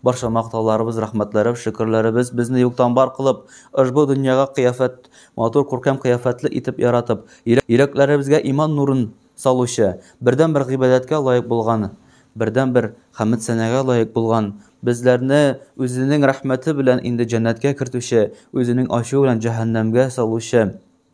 Барча мактауларыбыз, рәхмәтләребез, шөкерләребез безне юктан бар кылып, ошбу дөньяга кыяфәт, матур, күркәм кыяфәтле итеп яратып, йөрәкләребезгә иман нурын салучы, бердәнбер гыйбадәткә лаек булган, бердәнбер хәмед-сәнәгә лаек булган, безләрне үзенең рәхмәте белән инде җәннәткә кертүче, үзенең ачуы белән җәһәннәмгә салучы.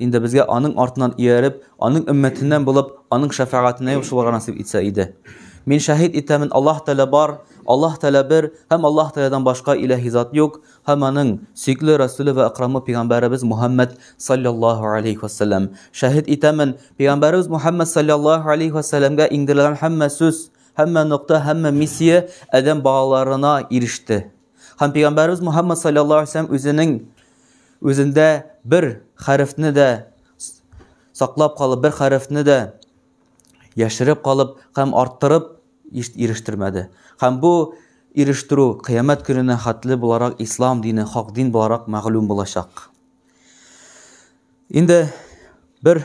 Инде безгә аның артыннан ияреп, аның өммәтеннән булып, аның шәфәгатенә юшылырга насыйп итсә иде. Мин шәһид итәмен, Аллаһ Тәгалә бар, Аллаһ Тәгалә бер һәм Аллаһ Тәгаләдән башка иләһи зат юк һәм аның сөйкле Рәсүле вә Әкрамы пигамбәребез Мухәммәд саллаллаһу алейһи ва сәлләм. Шәһид итәмен, пигамбәребез Мухәммәд саллаллаһу алейһи ва сәлләмгә иңдерелгән һәммә сүз, һәммә нокта, һәммә миссия адәм балаларына иреште. Һәм пәйгамбәрбез Мухаммад саллаллаһу алейһи ва үзенең үзендә бер хәрефне дә саклап калып, бер хәрефне дә яшереп калып һәм арттырып ирештермәде. Һәм бу ирештерү кыямәт көненә хәтле буларак ислам дине, хак дин буларак мәгълүм булачак. Инде бер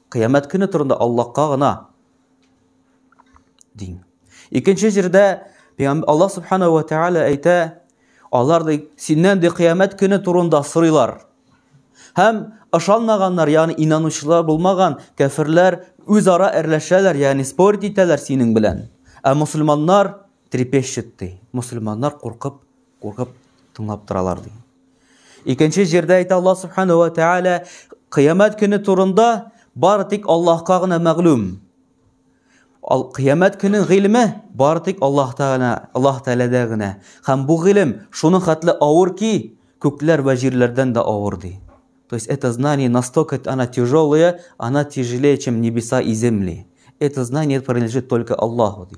Кыямәт көне турында Аллаһка гына дин. Икенче җирдә Алла субхана ва тааля әйтә, алар ди синнән ди кыямәт көне турында сорыйлар. Һәм ышанмаганнар, ягъни инанучылар булмаган кәферләр үзара әрләшәләр, ягъни спорить итәләр синең белән. Ә мусульманнар трепещет ди. Мусульманнар куркып Куркып тыңлап торалар ди. Икенче җирдә әйтә Аллаһ субхана ва тааля кыямәт көне турында бары тик Аллаһка гына мәгълүм. Ал кыямәт көне гыйлеме бары тик Аллаһ тааля, Аллаһ тааляда гына. Һәм бу гыйлем шуны хатлы авыр ки, күкләр ва җирләрдән дә авыр ди. То есть это знание настолько она тяжелое, она тяжелее, чем небеса и земли. Это знание принадлежит только Аллаху ди.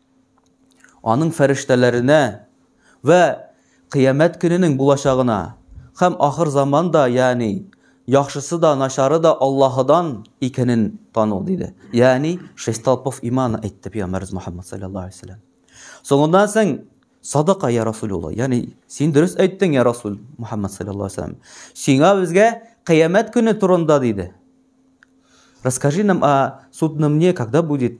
аның фәрештәләренә вә кыямәт көненең булачагына һәм ахыр заман да, ягъни яхшысы да, начары да Аллаһыдан икәнен тану, диде. Ягъни шесть столпов имана әйтте пәйгамбәрбез Мухаммад саллаллаһу алейһи вәсәлләм. Соңыннан соң Садака я Расулулла, ягъни син дөрес әйттең, я Расул Мухаммад саллаллаһу алейһи вәсәлләм. Сиңа безгә кыямәт көне турында диде. Расскажи нам о судном дне, когда будет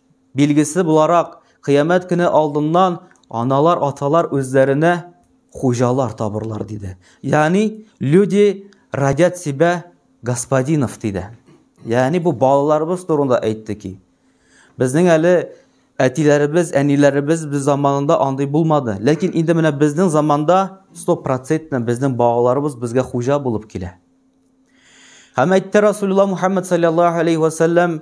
Билгесе буларак, кыямәт көне алдыннан аналар, аталар үзләренә хуҗалар табырлар, диде. Ягъни, люди родят себя господинов, диде. Ягъни, бу балаларыбыз турында әйтте ки, безнең әле әтиләребез, әниләребез без заманында андый булмады. Ләкин инде менә безнең заманда 100% безнең балаларыбыз безгә хуҗа булып килә. Һәм әйтте Расулулла Мухаммад саллаллаһу алейхи ва саллям,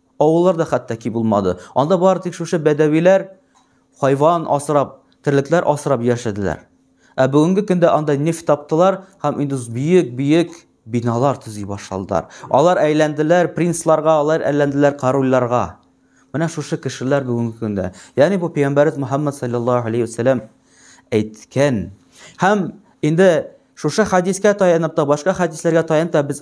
Авыллар да хәтта ки булмады. Анда бары тик шушы бәдәвиләр хайван асрап, терлекләр асрап яшәделәр. Ә бүгенге көндә анда нефть таптылар һәм инде бөек-бөек биналар төзи башладылар. Алар әйләнделәр принцларга, алар әйләнделәр корольләргә. Менә шушы кешеләр бүгенге көндә. Ягъни бу пәйгамбәрбез Мухаммад саллаллаһу алейхи ва саллям әйткән. Һәм инде шушы хадискә таянып та, башка хадисләргә таянып та без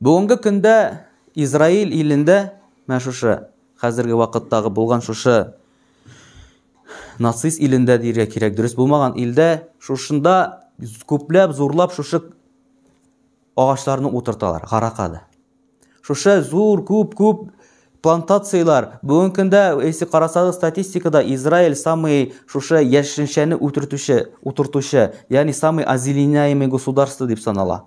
Бүгенге көндә Израиль илендә менә шушы хәзерге вакыттагы булган шушы нацист илендә диергә кирәк, дөрес булмаган илдә шушында күпләп зурлап шушы агачларны утырталар, гаракада. Шушы зур күп-күп плантацияләр бүгенге көндә, если карасагыз статистикада, Израиль самый шушы яшелчәне утыртучы, утыртучы, ягъни самый озеленяемый государство дип санала.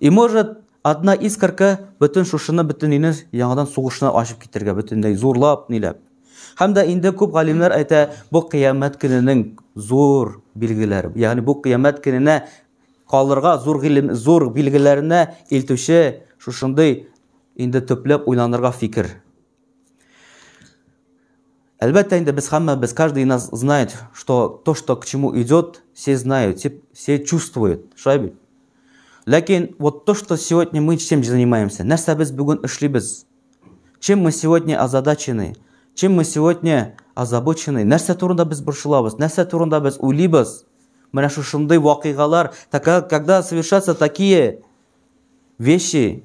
И может, одна искорка бөтен шушыны бөтен өйне яңадан сугышына ачып китергә бөтенләй зурлап, ниләп. Һәм дә инде күп галимнәр әйтә, бу кыямәт көненең зур билгеләре. Ягъни бу кыямәт көненә калырга зур гилем, зур билгеләренә илтүче шушындый инде төпләп уйланырга фикер. Әлбәттә инде без хамма, без каждый нас знает, что то, что к чему идет, все знают, все, все чувствуют. Шулай бит? Ләкин вот то, что сегодня мы чем занимаемся, нәрсә без бүген эшлибез? Чем мы сегодня озадачены? Чем мы сегодня озабочены? Нәрсә турында без борчылабыз? Нәрсә турында без уйлыйбыз? Менә шушындый вакыйгалар, когда совершаться такие вещи,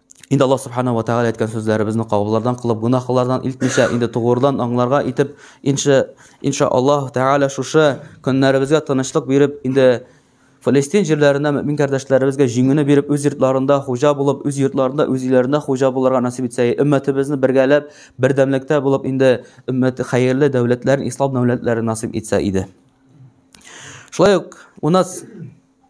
Инде Аллаһ Субхану ва Тәгалә әйткән сүзләребезне кабыллардан кылып, гунахлардан илтмичә, инде тугырдан аңларга итеп, инша инша Аллаһ Тәгалә шушы көннәребезгә тынычлык биреп, инде Фалестин җирләрендә мөмин кардәшләребезгә җиңүне биреп, үз йортларында хуҗа булып, үз йортларында, үз өйләрендә хуҗа булырга насыйп итсә, өммәтебезне бергәләп, бердәмлектә булып, инде өммәт хәерле дәүләтләрен, ислам дәүләтләрен насыйп итсә иде. Шулай ук у нас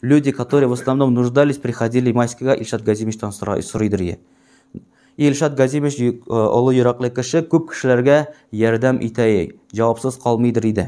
Люди, которые в основном нуждались, приходили Майскига, Ильшат Газимичтан сорыйдыр е. Ильшат Газимич э, олы йөрәкле кеше, күп кешеләргә ярдәм итә е, җавапсыз калмыйдыр иде.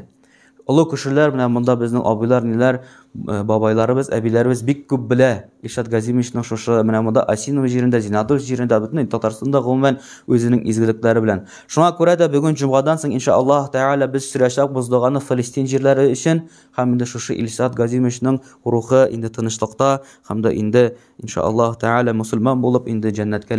Олы кешеләр менә монда безнең абыйлар, ниләр, э, бабайларыбыз, әбиләребез бик күп белә. Ильшат Газимичның шушы менә монда Осиново җирендә, Зинадов җирендә, бөтен Татарстанда гомумән үзенең изгелекләре белән. Шуңа күрә дә бүген җомгадан соң иншаллаһ тәгалә без сөйләшәк боздаганы Филистин җирләре өчен, Һәм инде шушы Илсат Газимовичның рухы инде тынычлыкта һәм дә инде, иншаАллаһу тәгалә, мөселман булып, инде җәннәткә